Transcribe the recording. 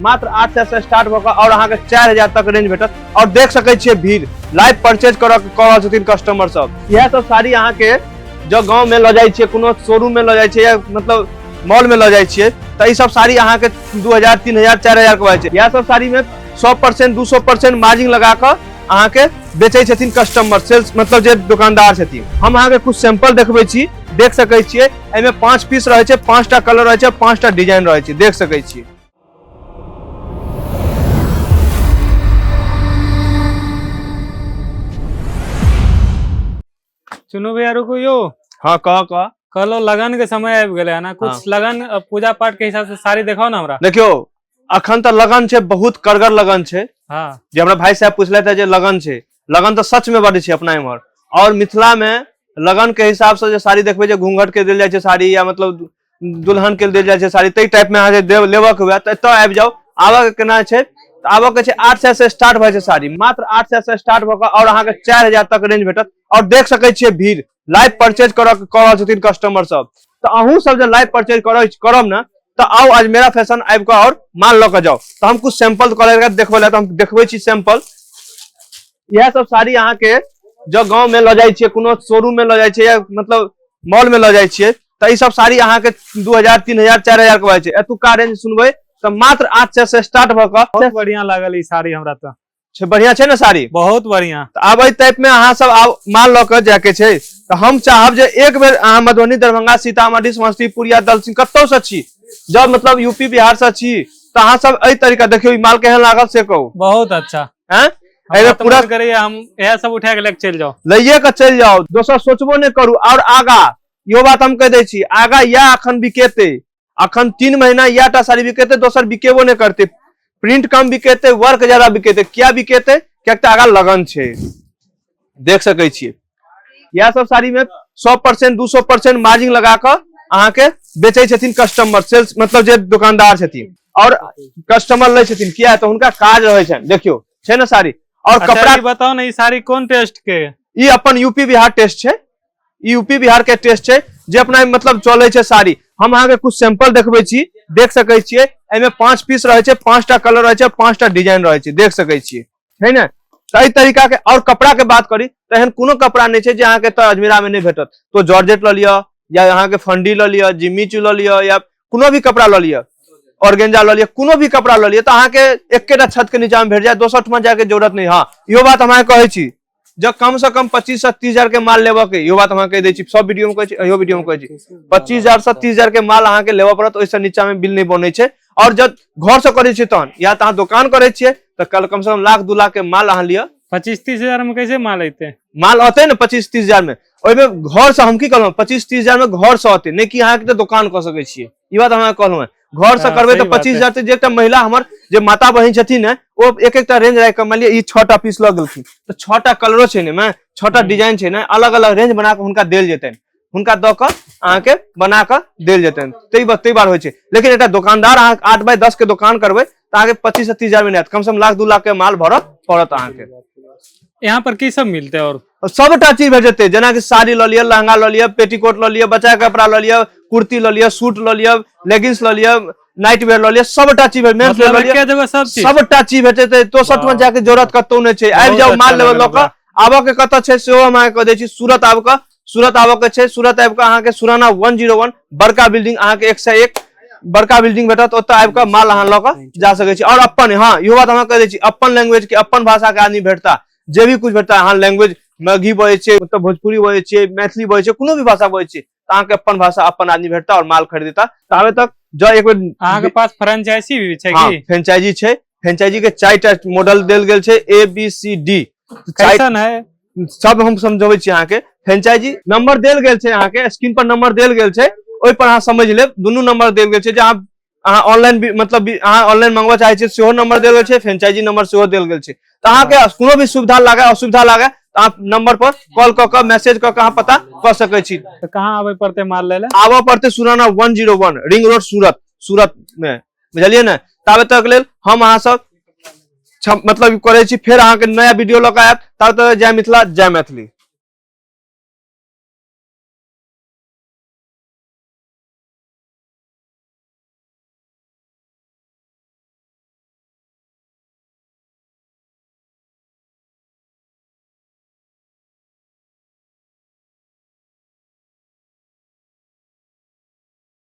मात्र आठ सौ से स्टार्ट होकर और अहाँ के चार हजार तक रेंज भेटत और देख सके छे भीड़ लाइव परचेज कर रहल छथिन कस्टमर सब यह सब साड़ी अहाँ के जो गांव में ल जाय छे कोनो शोरूम में ल जाय छे या मतलब मॉल में ल जाय छे त ई सब साड़ी अहाँ के 2000 3000 4000 के बाजे यह सब साड़ी में 100% 200% मार्जिन लगा कर अहाँ के बेचे छथिन कस्टमर सेल्स मतलब जे दुकानदार छथिन हम अहाँ के कुछ सैंपल देखबे छी देख सके छिए एमे पांच पीस रहे छे पांचटा कलर रहे छे पांचटा डिजाइन रहे छे देख सके छिए चुनू भैया रुकू यो हाँ कह कह कहलो लगन के समय आबि गेलै है ना कुछ हाँ। लगन अ, पूजा पाठ के हिसाब से साड़ी देखाओ ना हमरा देखियो अखन तऽ लगन छै बहुत कड़गर लगन छै हाँ जे हमरा भाई साहब पूछले थे जे लगन छै लगन तऽ सच में बड छै अपना इम्हर और मिथिला में लगन के हिसाब से जे साड़ी देखबे जे घूंघट के देल जाय छै साड़ी या मतलब दुल्हन के देल जाय छै साड़ी तै टाइप में अहाँ जे लेबक हुए तऽ एतऽ आबि जाउ आबऽ के केना छै आबऽ के छै आठ सए से स्टार्ट भए छै साड़ी मात्र आठ सए से स्टार्ट भऽ कऽ आओर अहाँके चारि हजार तक रेंज भेटत आओर देख सकै छियै भीड़ लाइव परचेज करऽ कऽ रहल छथिन कस्टमर सब तऽ अहूँ सब जे लाइव परचेज करऽ करब ने तऽ आउ आज मेरा फैशन आबि कऽ आओर माल लऽ कऽ जाउ तऽ हम कुछ सैंपल करके देखबै लए तऽ हम देखबै छी सैंपल इएह सब साड़ी अहाँके जब गाँव में लऽ जाइ छियै कोनो शोरूम में लऽ जाइ छियै या मतलब मॉल में लऽ जाइ छियै तऽ ई सब साड़ी अहाँके दू हजार तीन हजार चारि हजार के भए छै एतुका रेंज सुनबै तऽ मात्र आठ सए से स्टार्ट भऽ कऽ बहुत बढ़िया लागल ई साड़ी हमरा तऽ छै बढ़िया छै ने साड़ी बहुत बढ़िया तऽ आब एहि टाइप मे अहाँ सब आब माल लऽ कऽ जायके छै तऽ हम चाहब जे एक बेर अहाँ मधुबनी दरभंगा सीतामढ़ी समस्तीपुर या दलसिंह कतौ से छी जब मतलब यूपी बिहार से छी तऽ अहाँ सब एहि तरीका देखियौ ई माल केहन लागल से कहू बहुत अच्छा हैं हमरा एहिमे तऽ पूरा मन करैया हम इएह सब उठा के लेके चलि जाओ लैये के चलि जाउ दोसर सोचबो नहि करू और आगा यो बात हम कह दे छी आगा या अखन बिकेते अखन तीन महीना या टा साड़ी बिकेते दोसर बिकेबो नहीं करते प्रिंट कम बिकेते वर्क ज्यादा बिकेते क्या बिकेते क्या तो आगा लगन छे देख सके छी या सब साड़ी में सौ परसेंट दू सौ परसेंट मार्जिन लगा कर अहा के बेचे छथिन कस्टमर सेल्स मतलब जे दुकानदार छथिन और कस्टमर ले छथिन किया तो उनका काज रहे छन देखियो छे ना साड़ी और अच्छा, कपड़ा बताओ ना ई साड़ी कौन टेस्ट के ई अपन यूपी बिहार टेस्ट छे ई यूपी बिहार के टेस्ट छै जे अपना एहिमे मतलब चलै छै साड़ी हम अहाँके कुछ सैंपल देखबै छी देख सकै छियै एहिमे पांच पीस रहै छै पांचटा कलर रहै छै पांचटा डिजाइन रहै छै देख सकै छियै छै ने तऽ एहि तरीका के और कपड़ा के बात करी तऽ एहन कोनो कपड़ा नहि छै जे अहाँके एतऽ अजमेरा में नहि भेटत तो जॉर्जेट लऽ लिअ या अहाँके फंडी लऽ लिअ जिम्मी चू लऽ लिअ या कोनो भी कपड़ा लऽ लिअ ऑर्गेंजा लऽ लिअ कोनो भी कपड़ा लऽ लिअ तऽ अहाँके एकेटा छत के नीचा में भेट जायत दोसर ठमा जाय के जरूरत नहि हँ इहो बात हम अहाँके कहै छी जब कम से कम पच्चीस से तीस हजार के माल लेबऽ के यो बात हम कह दै छी सब वीडियो में कहै छी अहियो वीडियो में कहै छी पच्चीस हजार से तीस हजार के माल अहाँ के लेबऽ पड़त ओहिसँ नीचा में बिल नहि बनै छै और जब घर से करै छी तहन या तऽ अहाँ दोकान करै छियै तऽ कल कम से कम लाख दू लाख के माल अहाँ लिअ पच्चीस तीस हजार में कैसे माल अयते माल अतै ने पच्चीस तीस हजार में ओहिमे घर से हम की कहलहुँ पच्चीस तीस हजार में घर से अतै नहि कि अहाँ के दोकान कऽ सकै छियै ई बात हम अहाँ के कहलहुँ हेँ घर से हाँ, करबे सही तो बात पच्चीस है। हजार से जे एकटा महिला हमर जे माता बहन छथिन है ओ एक एकटा रेंज राख के मान लिअ ई छटा पीस लग गेलखिन तो छटा कलरो छै ने में छटा हम्म। डिजाइन छै ने अलग अलग रेंज बना के हुनका देल जेतनि हुनका दऽ कऽ अहाँके बना कऽ देल जेतनि ताहि बा- ताहि बार होइ छै लेकिन एकटा दोकानदार अहाँ आठ बाय दस के दोकान करबै तऽ अहाँके पच्चीस से तीस हजार में नहीं आयत कम से कम लाख दू लाख के माल भरत पड़त अहाँके यहाँ पर की सब मिलते और और सबटा चीज भेट जेतै जेना कि साड़ी लऽ लिअ लहंगा लऽ लिअ पेटीकोट लऽ लिअ बच्चा के कपड़ा लऽ लिअ कुर्ती लऽ लिअ सूट लऽ लिअ लेगिंग्स लऽ लिअ नाइट वेयर लऽ लिअ सबटा चीज भेट मेंस मतलब लऽ लिअ एके जगह सब चीज सबटा चीज भेट जेतै तो सट में जाके जरूरत कतौ नहि छै आबि बहुत जाउ अच्छा माल लेवल लऽ लागल कऽ आबऽ के कतऽ छै सेहो हम अहाँके कह दै छी सूरत आबि कऽ सूरत आबऽ के छै सूरत आबि कऽ अहाँके सुराना वन जीरो वन बड़का बिल्डिंग अहाँके एक से एक बड़का बिल्डिंग भेटत ओतऽ आबि कऽ माल अहाँ लऽ कऽ जा सकै छी आओर अपन हँ इहो बात अहाँ कहि दै छी अपन लैंग्वेज के अपन भाषा के आदमी भेटता जे भी कुछ भेटता अहाँ लैंग्वेज मैगी बजै छियै मतलब भोजपुरी बजै छियै मैथिली बजै छियै कोनो भी भाषा बजै छियै तऽ अहाँके अपन भाषा अपन आदमी भेटता आओर माल खरीदता ताबे तक जँ एक बेर अहाँके पास फ्रेंचाइजी भी छै हाँ, की फ्रेंचाइजी छै फ्रेंचाइजी के चारि टा मॉडल देल गेल छै ए बी सी डी कैसन है सब हम समझबै छी अहाँके फ्रेंचाइजी नंबर देल गेल छै अहाँके स्क्रीन पर नंबर देल गेल छै ओहि पर अहाँ समझ लेब दुनू नंबर देल गेल छै जे अहाँ अहाँ ऑनलाइन भी- मतलब भी- अहाँ ऑनलाइन मंगवा चाहे छियै सेहो नंबर देल गेल छै फ्रेंचाइजी नंबर सेहो देल गेल छै तऽ अहाँके कोनो भी सुविधा लागे असुविधा लागे तऽ अहाँ नंबर पर कॉल कऽ कऽ मैसेज कऽ कऽ अहाँ पता कऽ सकै छी तो कहाँ आवे पड़ते माल ले ले आबऽ पड़तै Surana one zero one ring road Surat Surat मे बुझलियै ने ताबे तक लेल हम अहाँ सब छम- मतलब ई करै छी फेर अहाँके नया वीडियो लऽ कऽ आयब ताबे तक लेल जय मिथिला जय मैथिली